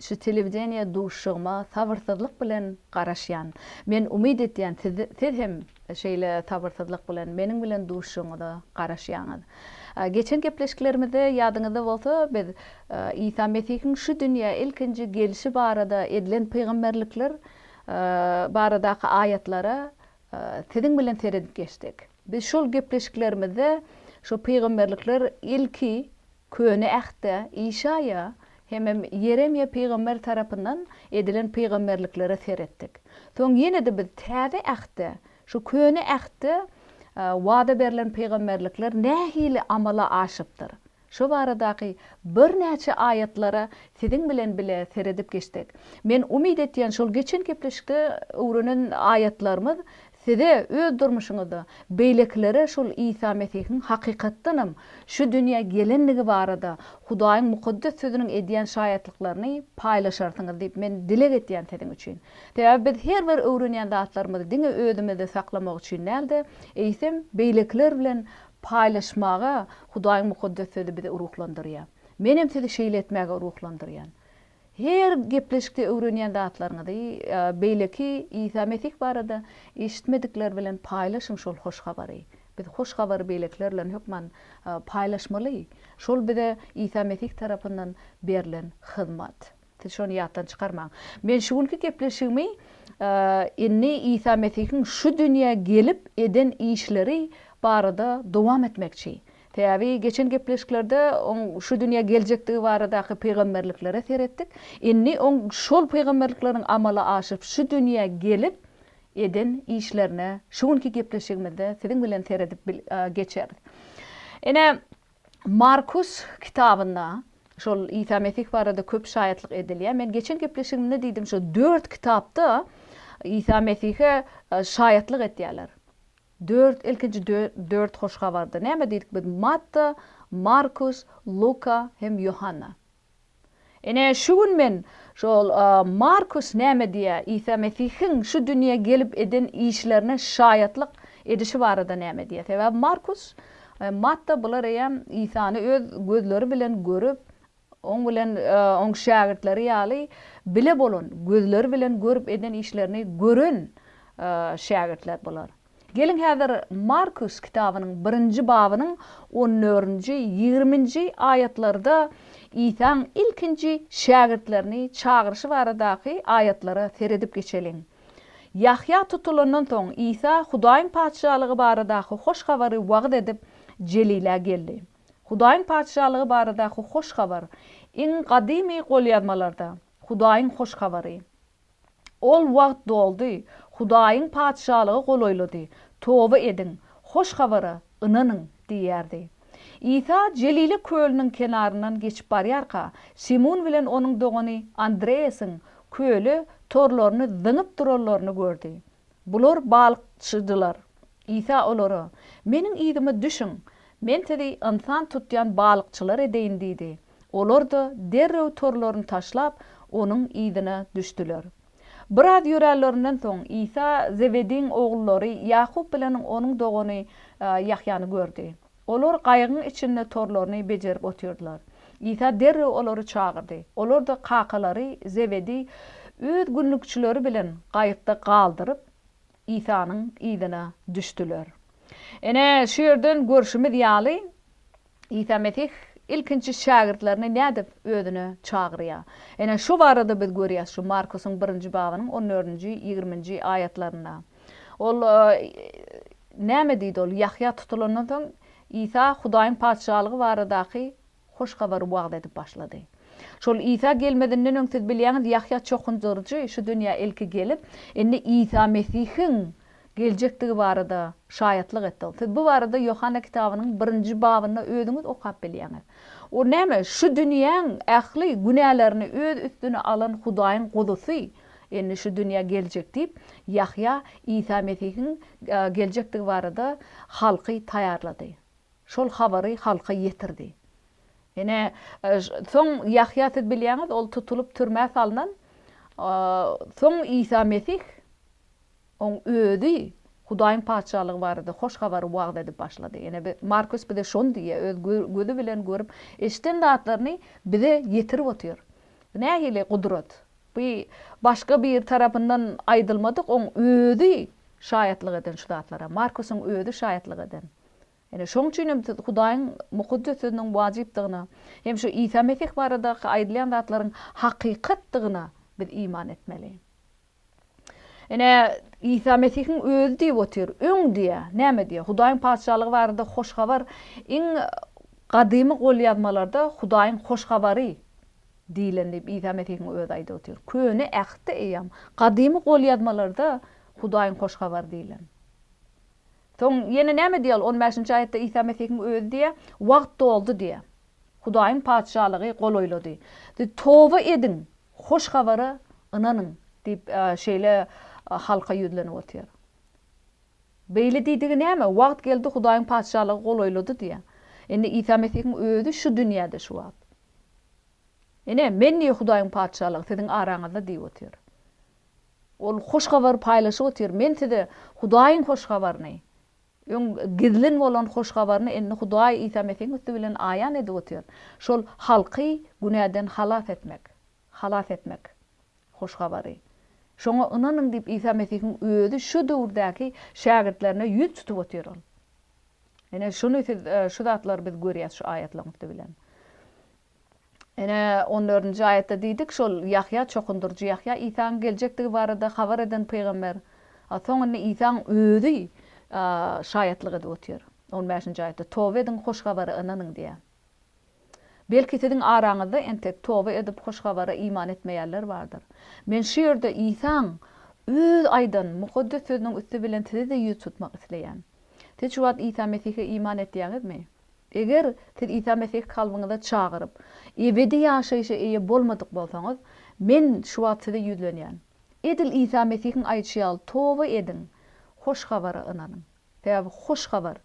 Şu telewideniýe duşuşygyma sabyrsyzlyk bilen garaşýan. Men umyt etýän siz hem şeýle sabyrsyzlyk bilen meniň bilen duşuşygyňyza garaşýaňyz. Geçen gepleşiklerimizde ýadyňyzda bolsa biz Isa Mesihiň şu dünýä ilkinji gelşi barada edilen pygamberlikler baradaky aýatlara siziň bilen seredip geçdik. Biz şol gepleşiklerimizde şu pygamberlikler ilki Köne Ähtde Işaýa hemem Ýeremýa pygamber tarapyndan edilen pygamberliklere seretdik. Soň ýene-de biz Täze Ähtde, şu Köne Ähtde wada berlen pygamberlikler nähili amala aşypdyr? Şo baradaky birnäçe aýatlara siziň bilen bile seredip geçsek. Men umyt etýän şol geçen gepleşikde öwrenen aýatlarymyz Size öz durmuşyňyzda beýlekilere şol Isa Mesihiň hakykatdanam şu dünýä gelendigi barada Hudaýyň Mukaddes Sözüniň edýän şaýatlyklaryny paýlaşarsyňyz diýip men dileg etýän siziň üçin. Sebäbi biz her bir öwrenýän zatlarymyzy diňe özümizde saklamak üçin däl-de, eýsem beýlekiler bilen paýlaşmaga Hudaýyň Mukaddes Sözi bizi ruhlandyrýar. Menem sizi şeýle etmäge ruhlandyrýan. Her gepleşikde öwrenýän zatlaryňyzy, beýleki Isa Mesih barada eşitmedikler bilen paýlaşyň şol hoş habary. Biz hoş habary beýlekiler bilen hökman paýlaşmaly. Şol bize Isa Mesih tarapyndan berlen hyzmat. Siz şony ýatdan çykarmaň. Men şu günki gepleşigimi indi Isa Mesihiň şu dünýä gelip eden işleri barada dowam etmekçi. Sebäbi geçen gepleşiklerde oň şu dünýä geljekdigi baradaky pygamberliklere seretdik. Indi oň şol pygamberlikleriň amala aşyryp şu dünýä gelip eden işlerine şu günki gepleşigimizde siziň bilen seredip geçeris. Ine Markus kitabynda şol Isa Mesih barada köp şaýatlyk edilýär. Men geçen gepleşigimde diýdim şu dört kitapda Isa Mesihe şaýatlyk etýärler. Dört, ilkinji dört hoş habarda näme diýdik biz? Matta, Markus, Luka hem Ýohanna. Ine, şu gün men şol Markus näme diýýär, Isa Mesihiň şu dünýä gelip eden işlerine şaýatlyk edişi barada näme diýýär? Sebäbi Markus, Matta bular eýýäm Isany öz gözleri bilen görüp, Oň bilen oň şägirtleri ýaly bile bolan, gözleri bilen görüp eden işlerini gören şägirtler bular. Geliň häzir Markus kitabynyň birinji babynyň on dördünji, ýigriminji aýatlarda Isaň ilkinji şägirtlerini çagyryşy baradaky aýatlara seredip geçeliň. Ýahýa tutulandan soň Isa Hudaýyň Patyşalygy baradaky hoş habary wagyz edip Jelilä geldi. Hudaýyň Patyşalygy baradaky hoş habar iň gadymy golýazmalarda, Hudaýyň hoş habary. Ol wagt doldy, Hudaýyň Patyşalygy golaýlady, toba ediň, hoş habara ynanyň diýýärdi. Isa Jelile kölüniň kenaryndan geçip barýarka, Simun bilen onuň dogany Andreasiň köle torlaryny zyňyp duranlaryny gördi. Bular balykçydylar. Isa olara, Meniň yzyma düşüň, Men sizi ynsan tutýan balykçylar edeýin diýdi. Olar-da derrew torlaryny taşlap, Onuň yzyna düşdüler. Biraz ýöränlerinden soň, Isa Zebediň ogullary Ýakup bilen onuň dogany Ýahýany gördi. Olar gaýygyň içinde torlaryny bejerip otyrdylar. Isa derrew olary çagyrdy. Olar-da kakalary Zebediý öz günlükçileri bilen gaýykda galdyryp, Isanyň yzyna düşdüler. Ine, şu ýerden görşümiz ýaly, Isa Mesih ilkinji şägirtlerini nädip özüne çagyrýar? Ine, şu barada biz görýäs şu Markusyň birinji babynyň on dördünji, ýigriminji aýatlarynda. Ol, Näme diýdi ol? Ýahýa tutulandan soň, Isa Hudaýyň Patyşalygy baradaky hoş habary wagyz edip başlady. Şol Isa gelmezinden öň, siz bilýäňiz, Ýahýa çokundyryjy şu dünýä ilki gelip, indi Isa Mesihiň geljekdigi barada şaýatlyk etdi. Ol, Siz bu barada Ýohanna kitabynyň birinji babynda özüňiz okap bilýäňiz. O näme? Şu dünýäň ähli günälerini öz üstüne alan Hudaýyň Guzusy. Indi şu dünýä geljek diýip, Ýahýa Isa Mesihiň geljekdigi barada halky taýýarlady. Şol habary halka ýetirdi. Ine, soň Ýahýa, siz bilýäňiz, ol tutulyp türmä salnan. Soň Isa Mesih Oň özi Hudaýyň Patyşalygy barada hoş habary wagyz edip başlady. Ene bi, Markus bize şony diýýär, öz gö, gözi bilen görüp, eşiden zatlaryny bize ýetirip otyr. Bu nähili gudrat! Bu başga biri tarapyndan aýdylmadyk, oň özi şaýatlyk eden şu zatlara. Markusyň özi şaýatlyk eden. Ene, şoň üçin hem siz Hudaýyň Mukaddes Sözüniň wajypdygyna hem şu Isa Mesih baradaky aýdylýan zatlaryň hakykatdygyna biz iman etmeli. Ine, Isa Mesihiň özi diýip otyr, öň diýýär. Näme diýýär? Hudaýyň Patyşalygy barada hoş habar iň gadymy golýazmalarda Hudaýyň hoş habary diýlen diýip Isa Mesihiň özi aýdyp otyr. Köne Ähtde eýýäm, gadymy golýazmalarda Hudaýyň hoş habary diýlen. Soň ýene näme diýýär? On bäşinji aýatda Isa Mesihiň özi diýýär, Wagt doldy diýýär. Hudaýyň Patyşalygy golaýlady. Siz toba ediň, Hoş habara ynanyň! diýip, şeýle halka ýüzlenip otyr. Beýle diýdigi näme? Wagt geldi, Hudaýyň Patyşalygy golaýlady diýýär. Indi Isa Mesihiň özi şu dünýäde şu wagt. Ine, men diýýär, Hudaýyň Patyşalygy siziň araňyzda diýip otyr. Ol hoş habary paýlaşyp otyr. Men size Hudaýyň hoş habaryny Öň gizlin bolan hoş habaryny indi Hudaý Isa Mesihiň üsti bilen aýan edip otyr. Şol halky günäden halas etmek. Halas etmek. Hoş habary. Şoňa ynanyň diýip Isa Mesihiň özi şu döwürdäki şägirtlerine ýüz tutup otyr ol. Ine şuny siz şu zatlary biz görýäs şu aýatlaryň üsti bilen. Ine, on dördünji aýatda diýdik, şol Ýahýa, çokundyryjy Ýahýa, Isaň geljekdigi barada habar eden pygamber. A soň indi Isaň özi şaýatlyk edip otyr. On bäşinji aýatda, Toba ediň, hoş habara ynanyň diýýär. Belki siziň araňyzda entek toba edip hoş habara iman etmeýänler bardyr. Men şu ýerde Isaň öz aýdan mukaddes sözüniň üsti bilen sizi-de ýüz tutmak isleýän. Siz şu wagt Isa Mesihe iman etýäňizmi? Eger siz Isa Mesihi kalbyňyza çagyryp, ebedi ýaşaýşa eýe bolmadyk bolsaňyz, men şu wagt size ýüzlenýän. Edil Isa Mesihiň aýdyşy ýaly toba ediň, Hoş Habara ynanyň. Sebäbi Hoş Habar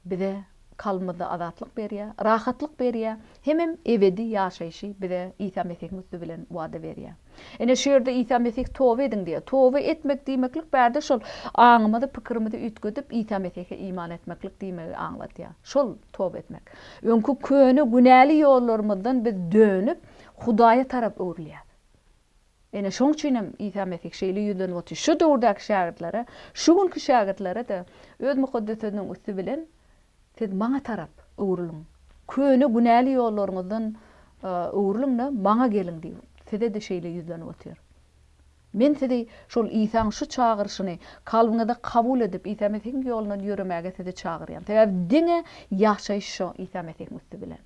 bize kalbymyzda azatlyk berýär, rahatlyk berýär Hemem ebedi ýaşaýşy bize Isa Mesihiň üsti bilen wada berýär. Ine, şu ýerde Isa Mesih toba ediň diýýär. Toba etmek diýmeklik bärde şol aňymyzy, pikirimizi üýtgedip, Isa Mesihe iman etmeklik diýmegi aňladýar. Şol toba etmek. Öňki köne günäli ýollarymyzdan biz dönüp, Hudaýa tarap öwrülýäs. Ine, şoň üçin hem Isa Mesih şeýle ýüzlenip otyr. Şu döwürdäki şägirtlere, şu günki şägirtlere-de öz Mukaddes Sözüniň üsti bilen, Siz Maňa tarap öwrüliň. Köne günäli ýollaryňyzdan öwrüliň-de, Maňa geliň diýip, size-de şeýle ýüzlenip otyr. Men sizi şol Isaň şu çagyryşyny kalbyňyzda kabul edip, Isa Mesihiň ýolundan ýöremäge sizi çagyrýan. Sebäbi diňe ýaşaýyş şo Isa Mesihiň üsti bilen.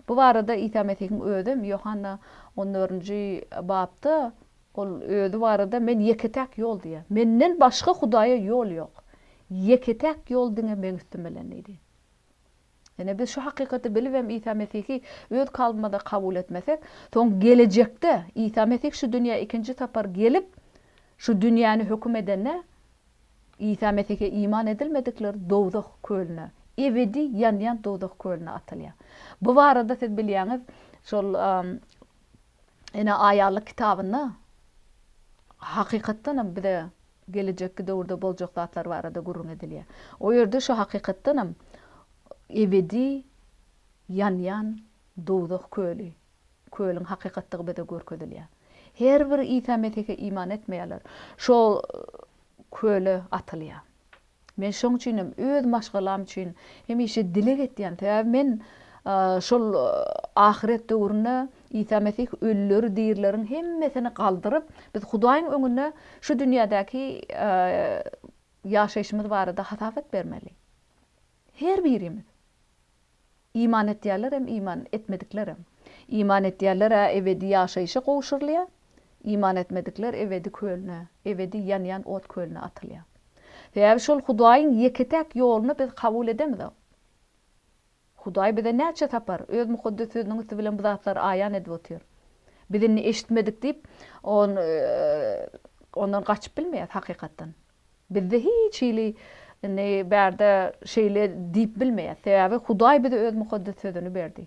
Bu barada Isa Mesihiň özem Ýohanna on dördünji babda Ol Özi barada Men ýeke-täk ýol diýýär. Menden başga Hudaýa ýol ýok. Ýeke-täk ýol diňe Meň üstüm bilen diýdi. Ine, biz şu hakykaty bilibem Isa Mesihi öz kalbymyza kabul etmesek, soň gelejekde Isa Mesih şu dünýä ikinji sapar gelip, şu dünýäni höküm edende, Isa Mesihe iman edilmedikler dowzah kölüne, ebedi ýanýan dowzah kölüne atylýar. Bu barada siz bilýäňiz, şol Ene aýallyk kitabynda hakykatdanam bize gelejekki döwürde boljak zatlar barada gürrüň edilýär. O ýerde şu hakykatdanam ebedi ýanýan dowzah köli Kölüň hakykatdygy bize görkezilýär. Her bir Isa Mesihe iman etmeýänler şo köle atylýar. Men şoň üçin hem öz maşgalam üçin hemişe dileg etýän. Sebäbi men şol ahyret döwründe Isa Mesih ölüleri dirileriň hemmesini galdyryp, biz Hudaýyň öňünde şu dünýädäki ýaşaýşymyz barada hasabat bermeli. Her birimiz. Iman etýärlerem, iman etmediklerem. Iman etýärler-ä ebedi ýaşaýşa gowşurylýar, iman etmedikler ebedi kölüne, ebedi ýanýan ot kölüne atylýar. Sebäbi şol Hudaýyň ýeke-täk ýoluny biz kabul edemizok. Hudaý bize näçe sapar Öz Mukaddes Sözüniň üsti bilen bu zatlary aýan edip otyr. Biz indi eşitmedik diýip, Ondan gaçyp bilmeýäs hakykatdan. Bizde hiç hili indi bärde şeýle diýip bilmeýäs. Sebäbi Hudaý bize öz mukaddes sözüni berdi.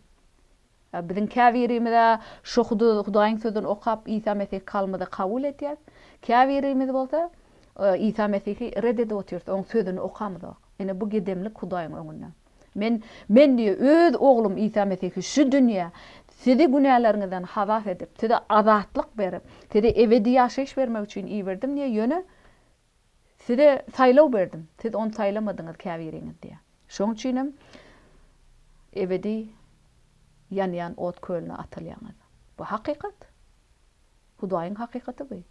Biziň käbirimiz-ä şo Hudaýyň sözüni okap Isa Mesihi kalbymyzda kabul edýäs. Käbirimiz bolsa Isa Mesihi ret edip otyrys, oň sözüni okamyzok. Ine bu gedemlik Hudaýyň öňünde. Men, men diýýär, öz Oglum Isa Mesihi şu dünýä sizi günäleriňizden halas edip, size azatlyk berip, size ebedi ýaşaýyş bermek üçin iberdim diýýär, ýöne size saýlaw berdim, siz ony saýlamadyňyz käbiriňiz diýýär. Şonuň üçin hem ebedi ýanýan ot kölüne atylýaňyz. Bu hakykat. Hudaýyň hakykaty bu.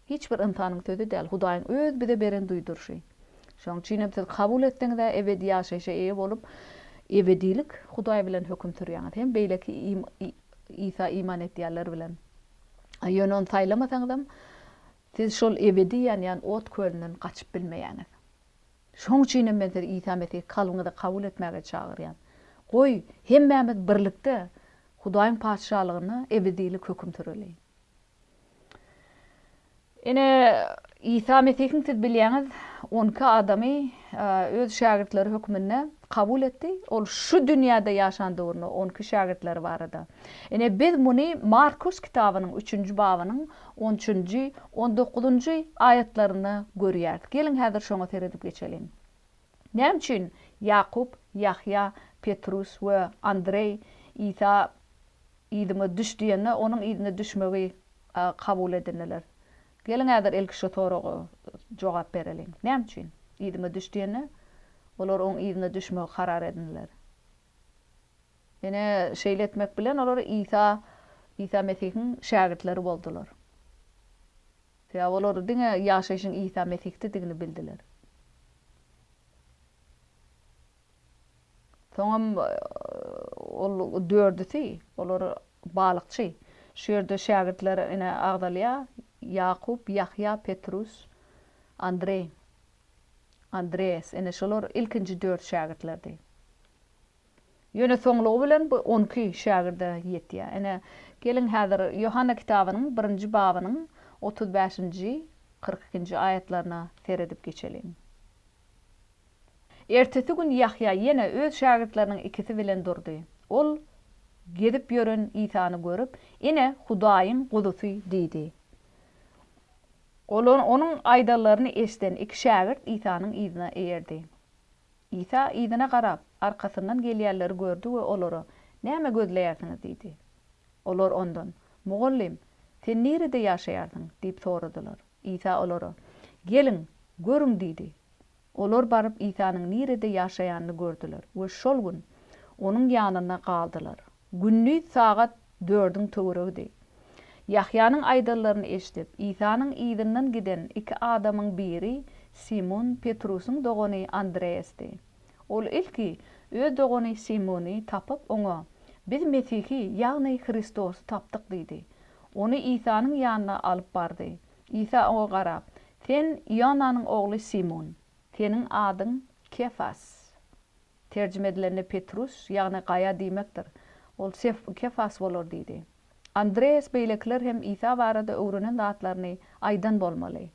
Hiç bir ynsanyň sözi däl, Hudaýyň öz bize beren duýduryşy. Şonuň üçinem siz kabul etseňiz-ä ebedi ýaşaýşa eýe bolup, ebedilik Hudaý bilen höküm sürýäňiz hem beýleki Isa iman etýänler bilen. A ýöne ony saýlamasaňyzam, siz şol ebedi ýanýan ot kölünden gaçyp bilmeýäňiz. Şonuň üçinem men sizi Isa Mesihi kalbyňyza kabul etmäge çagyrýan. Goý, hemmämiz birlikde Hudaýyň Patyşalygynda ebedilik höküm süreliň. Ine, Isa Mesihiň siz bilýäňiz, on iki adamy öz şägirtleri hökmünde kabul etdi. Ol şu dünýäde ýaşan döwründe on iki şägirtleri barada. Ine, biz muny Markus kitabynyň üçünji babynyň on üçünji, on dokuzynjy aýatlarynda görýäris. Geliň, häzir şoňa seredip geçeliň. Näme üçin Ýakup, Ýahýa, Petrus we Andreý Isa Yzyňa düş diýende onuň yzyna düşmegi kabul edindiler. Geliň häzir ilki şu soraga jogap bereliň. Näme üçin? Yzyňa düş diýende olar oň yzyna düşmegi karar edindiler. Ine şeýle etmek bilen olar Isa Isa Mesihiň şägirtleri boldular. Sebäbi olar diňe ýaşaýşyň Isa Mesihdedigini bildiler. Soňam ol dördüsi, olar balykçy. Şu ýerde şägirtler ine agzalýar, Ýakup, Ýahýa, Petrus, Andreý, Andreas. Ine şolar ilkinji dört şägirtlerdi. Ýöne soňlugy bilen bu on iki şägirde ýetýär. Ine, geliň häzir Ýohanna kitabynyň birinji babynyň otuz bäşinji, kyrk ikinji aýatlaryna seredip geçeliň. Ertesi gün Ýahýa ýene öz şägirtleriniň ikisi bilen durdy. Ol gezip ýören Isany görüp, Ine, Hudaýyň Guzusy! diýdi. Olar onuň aýdanlaryny eşiden iki şägirt Isanyň yzyna eýerdi. Isa yzyna garap, arkasyndan gelýänleri gördi we olara, Näme gözleýärsiňiz? diýdi. Olar ondan, Mugallym, sen nirede ýaşaýarsyň? diýip soradylar. Isa olara, Geliň, görüň diýdi. Olar baryp Isanyň nirede ýaşaýanyny gördüler we şol gün Onuň ýanynda galdylar. Gündiz sagat dördüň töweregidi. Ýahýanyň aýdanlaryny eşidip, Isanyň yzyndan giden iki adamyň biri Simun Petrusyň dogany Andreasdy. Ol ilki öz dogany Simuny tapyp, oňa, Biz Mesihi, ýagny Hristosy tapdyk diýdi. Ony Isanyň ýanyna alyp bardy. Isa oňa garap, Sen Ionanyň ogly Simun. Seniň adyň Kefas. Terjime edilende Petrus, ýagny gaýa diýmekdir. Ol Kefas bolar diýdi. Andreas beýlekiler hem Isa barada öwrenen zatlaryny aýdan bolmaly.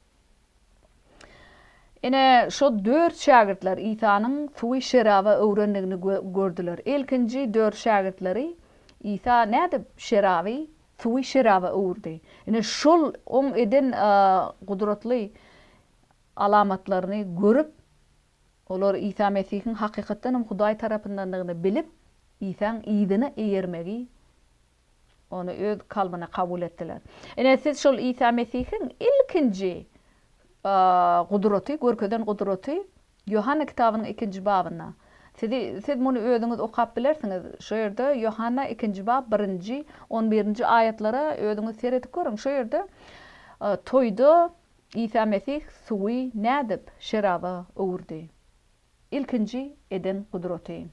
Ine, şo dört şägirtler Isanyň suwy şeraba öwrendigini gördüler. Ilkinji dört şägirtleri Isa nädip şeraby suwy şeraba öwürdi? Ine, şol Oň eden gudratly alamatlaryny görüp, olar Isa Mesihiň hakykatdan hem Hudaý tarapyndandygyny bilip, Isaň yzyna eýermegi Ony öz kalbyna kabul etdiler. Ine, siz şol Isa Mesihiň ilkinji gudraty, görkezen gudraty Ýohanna kitabynyň ikinji babynda. Sizi, siz muny özüňiz okap bilersiňiz. Şo ýerde Ýohanna ikinji bab birinji, on birinji aýatlara özüňiz seredip görüň. Şo ýerde toýda Isa Mesih suwy nädip şeraba öwürdi? ilkinji eden gudraty.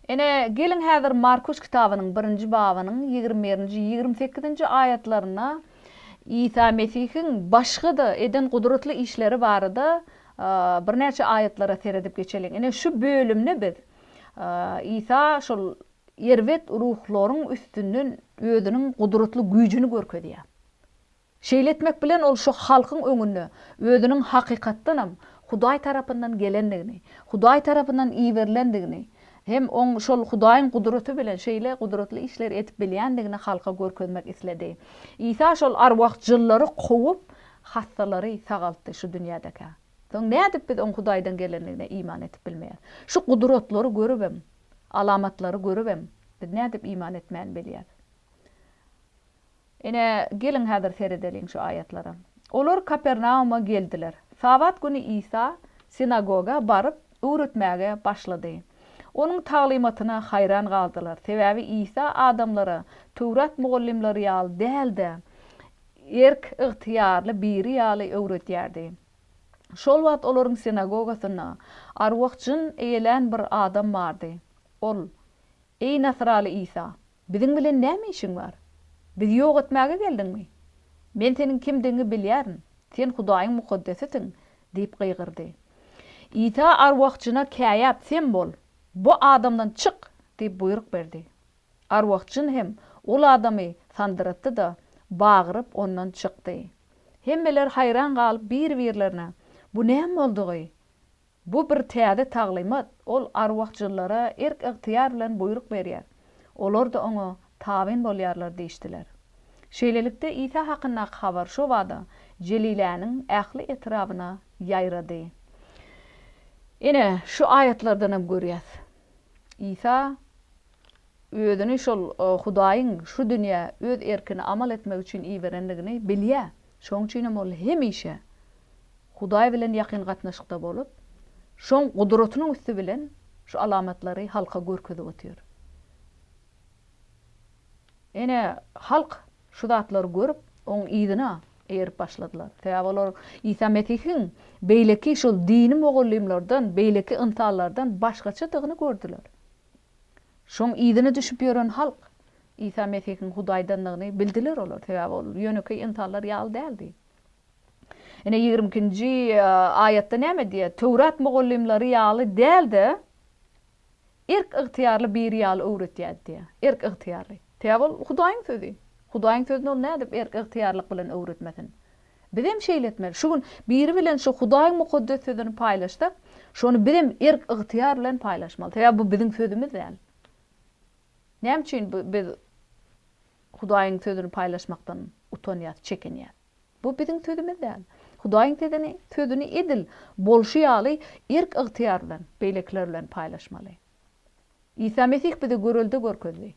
Ene, geliň häzir Markuş kitabynyň birinji babynyň ýigrimi birinji, ýigrimi sekizinji aýatlaryna Isa Mesihiň başga-da eden gudratly işleri barada birnäçe aýatlara seredip geçeliň. Ine, şu bölümde biz Isa şol erbet ruhlaryň üstünden özüniň gudratly güýjüni görkezýär. Şeýle etmek bilen ol şu halkyň öňünde özüniň hakykatdanam Hudaý tarapyndan gelendigini, Hudaý tarapyndan iberilendigini hem oň şol Hudaýyň gudraty bilen şeýle gudratly işleri edip bilýändigini halka görkezmek isledi. Isa şol arwah jynlary kowup, hassalary sagaltdy şu dünýädekä. Soň nädip biz oň Hudaýdan gelendigine iman edip bilmeýäs? Şu gudratlary görübem, alamatlary görübem biz nädip iman etmän bilýäs? Ine, geliň häzir seredeliň şu aýatlara. Olar Kapernauma geldiler. Sabat güni Isa sinagoga baryp, öwretmäge başlady. Onuň taglymatyna haýran galdylar, sebäbi Isa adamlara Töwrat mugallymlary ýaly däl-de, erk-ygtyýarly biri ýaly öwredýärdi. Şol wagt olaryň sinagogasynda arwah-jyn eýelän bir adam bardy. Ol, Eý, nasraly Isa, Biziň bilen näme işiň bar? Bizi ýok etmäge geldiňmi? Men seniň kimdigiňi bilýärin. Sen Hudaýyň mukaddesisiň! diýip gygyrdy. Isa arwah-jyna käýäp, Sen bol! Bu adamdan çyk! diýip buýruk berdi. Arwah-jyn hem ol adamy sandyratdy-da, bagyryp, ondan çykdy. Hemmeler haýran galyp bir-birlerine, Bu näme boldugy? Bu bir täze taglymat, ol arwah-jynlara erk-ygtyýar bilen buýruk berýär, olar-da oňa tabyn bolýarlar diýişdiler. Şeýlelikde, Isa hakyndaky habar şobada Jeliläniň ähli etrabyna ýaýrady. Ine, şu aýatlardan hem görýäs, Isa özüni şol Hudaýyň şu dünýä öz erkine amal etmek üçin iberendigini bilýär. Şoň üçinem ol hemişe Hudaý bilen ýakyn gatnaşykda bolup, Şoň gudratynyň üsti bilen şu alamatlary halka görkezip otyr. Ine, halk şu zatlary görüp, Oň yzyna erip başladylar. Sebäbi olar Isa Mesihiň beýleki şol dini mugallymlardan, beýleki ynsanlardan başgaçadygyny gördüler. Şoň yzyna düşüp ýören halk Isa Mesihiň Hudaýdandygyny bildiler olar, sebäbi ol ýönekeý ynsanlar ýaly däldi. Ine ýigrimi ikinji aýatda näme diýýär? Töwrat mugallymlary ýaly däl-de, erk ygtyýarly biri ýaly öwretýärdi diýýär. Erk ygtyýarly. Sebäbi ol Hudaýyň sözi. Hudaýyň sözüni ol nädip erk ygtyýarlyk bilen öwretmesin? Bizem şeýle etmeli. Şu gün biri bilen şu Hudaýyň mukaddes sözüni paýlaşsak, şony bizem erk-ygtyýar bilen paýlaşmaly. Sebäbi bu biziň sözümiz däl. Näme üçin biz Hudaýyň sözüni paýlaşmakdan utanýas, çekinýäs? Bu biziň sözümiz däl. Hudaýyň sözüni, sözüni edil bolşy ýaly erk-ygtyýar bilen beýlekiler bilen paýlaşmaly. Isa Mesih bize görelde görkezdi.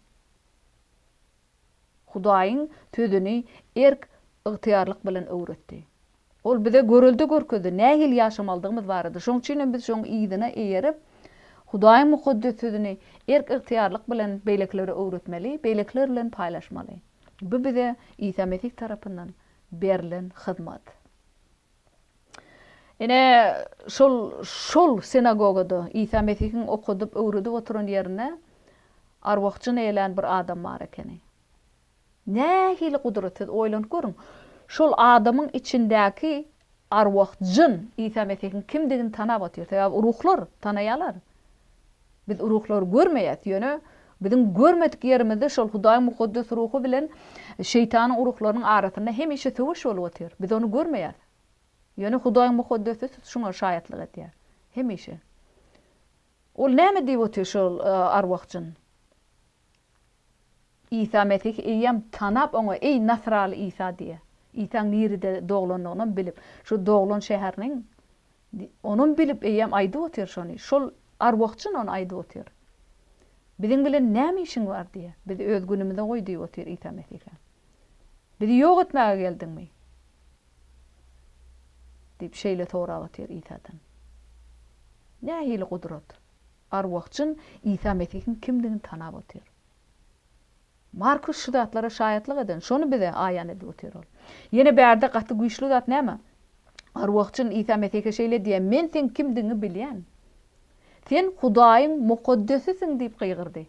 Hudaýyň Sözüni erk, ygtyýarlyk bilen öwretdi. Ol bize görelde görkezdi, nähili ýaşamalydygymyz barada. Şoň üçin hem biz şoň yzyna eýerip, Hudaýyň Mukaddes Sözüni erk, ygtyýarlyk bilen beýlekilere öwretmeli, beýlekiler bilen paýlaşmaly. Bu bize Isa Mesih tarapyndan berlen hyzmat. Ine, şol, şol sinagogada, Isa Mesihiň okadyp, öwredip oturan ýerinde arwah jyn eýlän bir adam bar ekeni. Nähili gudrat, siz oýlanyp görüň! Şol adamyň içindäki arwah jyn Isa Mesihiň kimdigini tanap otyr. Sebäbi ruhlar tanaýarlar. Biz ruhlary görmeýäs, ýöne biziň görmedik ýerimizde şol Hudaýyň mukaddes ruhy bilen şeýtanyň ruhlarynyň arasynda hemişe söweş bolup otyr. Biz ony görmeýäs. Ýöne Hudaýyň mukaddesi tut şuňa şaýatlyk edýär. Hemişe. Ol näme diýip otyr şol arwah-jyn? Isa Mesihi eýýäm tanap, oňa Eý, nasraly Isa diýýär. Isaň nirede doglanlygynam bilip, şu doglan şäheriniň Onam bilip eýýäm aýdyp otyr şony. Şol arwahjyn ony aýdyp otyr. Biziň bilen näme işiň bar diýýär. Bizi öz günümize goý diýip otyr Isa Mesihe. Bizi ýok etmäge geldiňmi? diýip şeýle sorap otyr Isadan. Nähili gudrat? Arwah-jyn Isa Mesihiň kimdigini tanap otyr. Markus şu zatlara şaýatlyk eden, şony bize aýan edip otyr. Ol. Ýene bärde gaty güýçli zat näme? Arwah-jyn Isa Mesihe şeýle diýýär, Men seň kimdigiňi bilýän. Sen Hudaýyň mukaddesisiň diýip gygyrdy.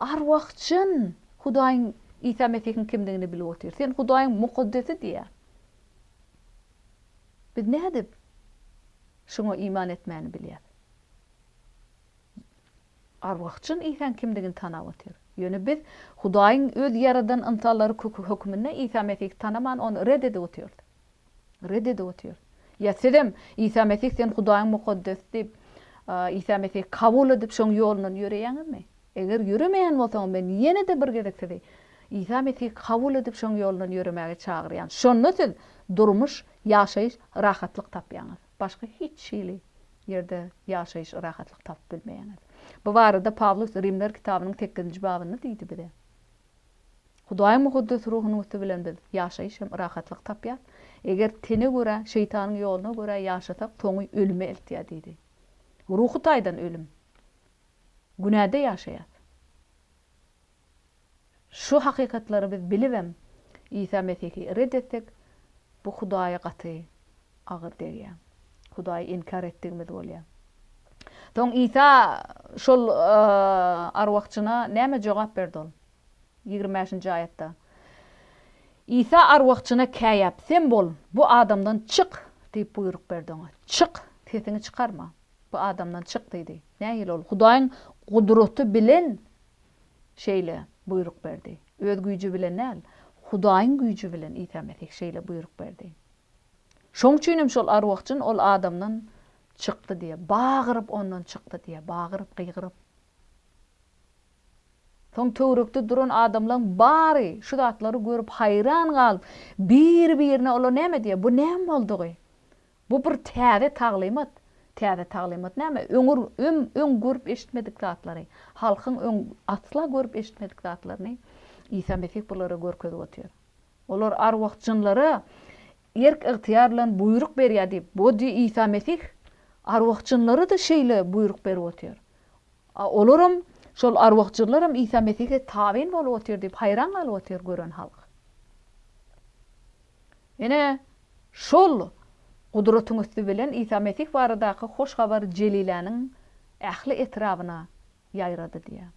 Arwah-jyn Hudaýyň Isa Mesihiň kimdigini bilip otyr. Sen Hudaýyň mukaddesi diýýär. Biz nädip Şuňa iman etmäni bilýäs? Arwah-jyn Isaň kimdigini tanap otyr. Ýöne biz Hudaýyň Öz ýaradan ynsanlary hökmünde Isa Mesihi tanaman, Ony red edip otyrys. Red edip otyrys. Ýa sizem, Isa Mesih sen Hudaýyň Mukaddesi diýip, Isa Mesihi kabul edip, Şoň ýolundan ýöreýäňizmi? Eger ýöremeýän bolsaňyz, men ýene-de bir gezek sizi Isa Mesihi kabul edip, şoň ýolundan ýöremäge çagyrýan. Şonda siz durmuş, ýaşaýyş, rahatlyk tapýaňyz. Başga hiç hili ýerde ýaşaýyş, rahatlyk tapyp bilmeýäňiz. Bu barada Pawlus Rimler kitabynyň sekizinji babynda diýdi bize. Hudaýyň mukaddes ruhunyň üsti bilen biz ýaşaýyş hem rahatlyk tapýas. Eger tene görä, şeýtanyň ýoluna görä ýaşasak, soňy ölüme eltýär diýdi. Ruhy taýdan ölüm. günäde ýaşaýas. Şu hakykatlary biz bilibem Isa Mesihi ret etsek, bu Hudaýa gaty agyr degýär. Hudaýy inkär etdigimiz bolýar. Soň Isa şol arwahjyna näme jogap berdi ol? Ýigrimi bäşinji aýatda. Isa arwahjyna käýäp, Sen bol, bu adamdan çyk! diýip buýruk berdi oňa. Çyk, sesiňi çykarma. Bu adamdan çyk diýdi. Nähili ol Hudaýyň gudraty bilen şeýle buýruk berdi? Öz güýji bilen däl, Hudaýyň güýji bilen Isa Mesih şeýle buýruk berdi. Şoň üçin hem şol arwah-jyn ol adamdan çykdy diýýär. Bagyryp ondan çykdy diýýär. Bagyryp, gygyryp. Soň töwerekde duran adamlaryň bary şu zatlary görüp haýran galyp, bir-birine olar näme diýýär, Bu näme boldugy? Bu bir täze taglymat. Täze taglymat näme? Öňür öň öň görüp eşitmedik zatlary, halkyň öň asla görüp eşitmedik zatlaryny Isa Mesih bulara görkezip otyr. Olar arwah jynlara erk ygtyýar bilen buýruk berýär diýip, bu di Isa Mesih arwah jynlara-da şeýle buýruk berip otyr. A olaram, şol arwah jynlaram Isa Mesihe tabyn bolup otyr diýip haýran galyp otyr gören halk. Ine, şol Gudratyň üsti bilen Isa Mesih baradaky hoş habar Jeliläniň ähli etrabyna ýaýrady diýýär.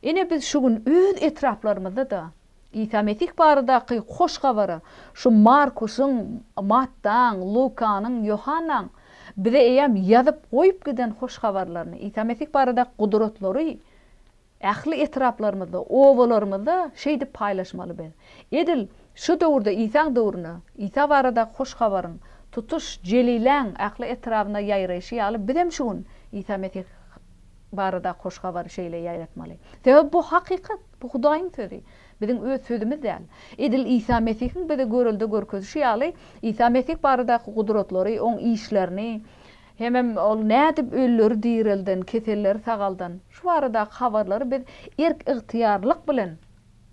Ine, biz şu gün öz etraplarymyzda-da Isa Mesih baradaky hoş habary şu Markusyň, Mattaň, Lukanyň, Ýohannaň bize eýýäm ýazyp goýup giden hoş habarlaryny, Isa Mesih baradaky gudratlary Ähli etraplarymyzda, obalarymyzda şeýdip paýlaşmaly biz. Edil şu döwürde Isaň döwrüne, Isa baradaky hoş habaryň tutuş Jeliläň ähli etrabyna ýaýraýşy ýaly bizem şu gün Isa Mesih baradaky hoş habary şeýle ýaýratmaly. Sebäbi bu hakykat, bu Hudaýyň sözi. Biziň öz sözümiz däl. Edil Isa Mesihiň bize görelde görkezişi ýaly Isa Mesih baradaky gudratlary, oň işlerini, Hemem ol nädip ölüleri direlden, keselleri sagaldan? Şu baradaky habarlary biz erk-ygtyýarlylyk bilen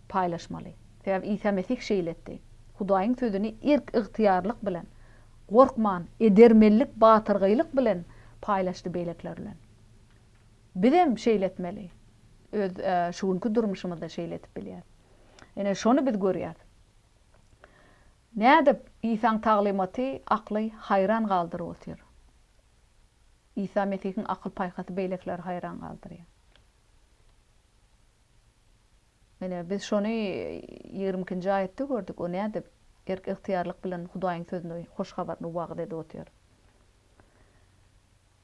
paýlaşmaly. Sebäbi Isa Mesih şeýle etdi. Hudaýyň sözüni erk-ygtyýarlylyk bilen, gorkman, edermenlik, batyrgaýlyk bilen paýlaşdy beýlekiler bilen. Bizem şeýle etmeli. Öz şu günki durmuşymyzda şeýle edip bilýäris. Ine, şony biz görýäris. Nädip Isaň taglymaty akly haýran galdyryp otyr? Isa Mesihiň akyl-paýhasy beýlekileri haýran galdyrýar. Ine, biz şony ýigrimi ikinji aýatda gördük, o nädip erk-ygtyýarlyk bilen Hudaýyň sözüni, hoş habaryny wagyz edip otyr?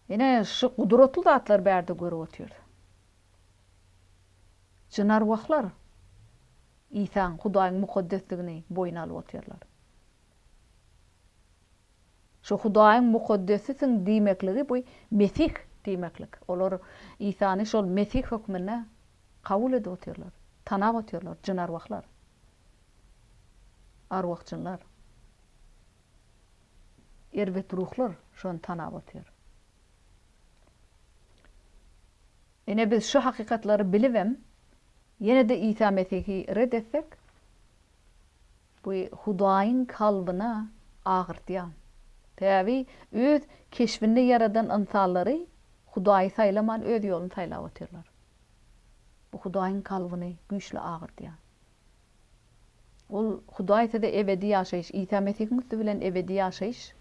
Ine, şu gudratly zatlary bärde görüp otyrys. Jynarwahlar. Isaň, Hudaýyň mukaddesligini boýun alyp otyrlar. Şu Hudaýyň mukaddesisiň diýmekligi bu Mesih diýmeklik. Olar Isany şol Mesih hökmünde kabul edip otyrlar, tanap otyrlar, jynarwahlar, arwah-jynlar, erbet ruhlar şony tanap otyr. Ine biz şu hakykatlary bilibem, Ýene-de Isa Mesihi ret etsek, bu Hudaýyň kalbyna agyrtýar. Sebäbi öz keşbinde ýaradan ynsanlary Hudaýy saýlaman öz ýoluny saýlap otyrlar. Bu Hudaýyň kalbyny güýçli agyrtýar. Ol Hudaý size ebedi ýaşaýyş, Isa Mesihiň üsti bilen ebedi ýaşaýyş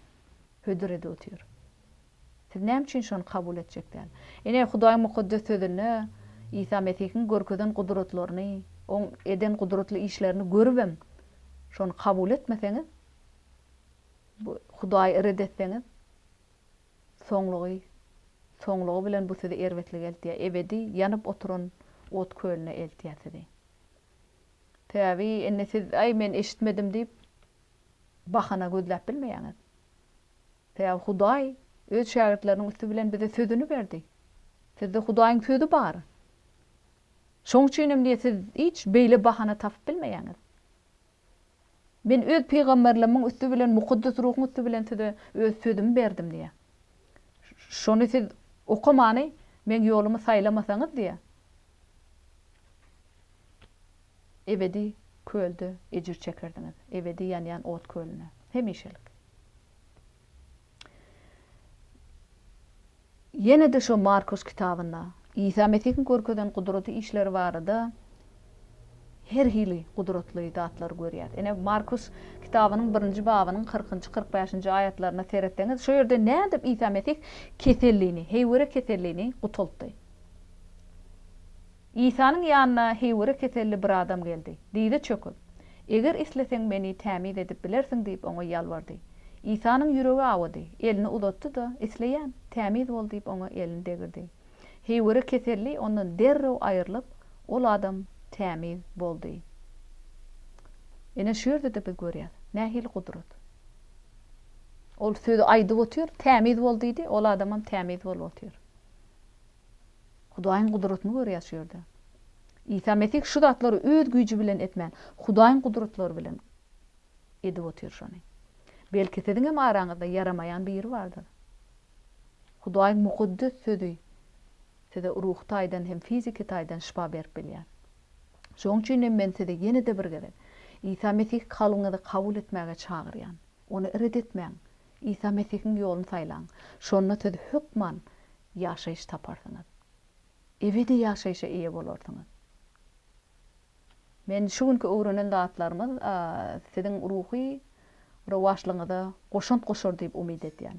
hödür edip otyr. Siz näme üçin şony kabul etjek däl? Ine, Hudaýyň Mukaddes Sözünde Isa Mesihiň görkezen gudratlaryny, Oň eden gudratly işlerini görübem, şony kabul etmeseňiz, bu Hudaýy ret etseňiz, soňlugy, soňlugy bilen bu sizi erbetlige eltýär, ebedi ýanyp oturan ot kölüne eltýär sizi. Sebäbi indi siz, Aý, men eşitmedim diýip, bahana gözläp bilmeýäňiz. Sebäbi Hudaý Öz şägirtleriniň üsti bilen bize Sözüni berdi. Sizde Hudaýyň Sözi bar. Şoň üçin hem diýe siz hiç beýle bahana tapyp bilmeýäňiz. Men Öz pygamberlimiň üsti bilen, Mukaddes Ruhuň üsti bilen size Öz Sözümi berdim diýe. Şony siz okamany Meň ýolumy saýlamasaňyz diýe. Ebedi kölde ejir çekerdiňiz. Ebedi ýanýan ot kölünde. Hemişelik. Ýene-de şo Markus kitabynda Isa Mesihiň görkezen gudraty işleri barada her hili gudratly zatlary görýäs. Ine, Markus kitabynyň birinji babynyň kyrkynjy, kyrk bäşinji aýatlaryna seretseňiz, şo ýerde nädip Isa Mesih kesellini, heýwere kesellini gutaltdy? Isanyň ýanyna heýwere keselli bir adam geldi. Dyza çöküp, Eger isleseň, meni tämiz edip bilersiň diýip, oňa ýalbardy. Isanyň ýüregi awady. Elini uzatdy-da, Isleýän, tämiz bol diýip, oňa elini degirdi. Heýwere keselli ondan derrew aýrylyp, ol adam tämiz boldy. Ine, şu ýerde-de biz görýäs, nähili gudrat. Ol sözi aýdyp otyr, Tämiz bol diýdi, ol adamam tämiz bolup otyr. Hudaýyň gudratyny görýäs şu ýerde. Isa Mesih şu zatlary öz güýji bilen etmän, Hudaýyň gudratlary bilen edip otyr şony. Belki siziň hem araňyzda ýaramaýan biri bardyr. Hudaýyň mukaddes sözi size ruhy taýdan hem fiziki taýdan şypa berip bilýär. Şoň üçin hem men sizi ýene-de bir gezek Isa Mesih kalbyňyza kabul etmäge çagyrýan. Ony ret etmäň. Isa Mesihiň ýoluny saýlaň. Şonda siz hökman ýaşaýyş taparsyňyz. Ebedi ýaşaýşa eýe bolarsyňyz. Men şu günki öwrenen zatlarymyz siziň ruhy rowaçlygyňyza goşant goşar diýip umyt edýän.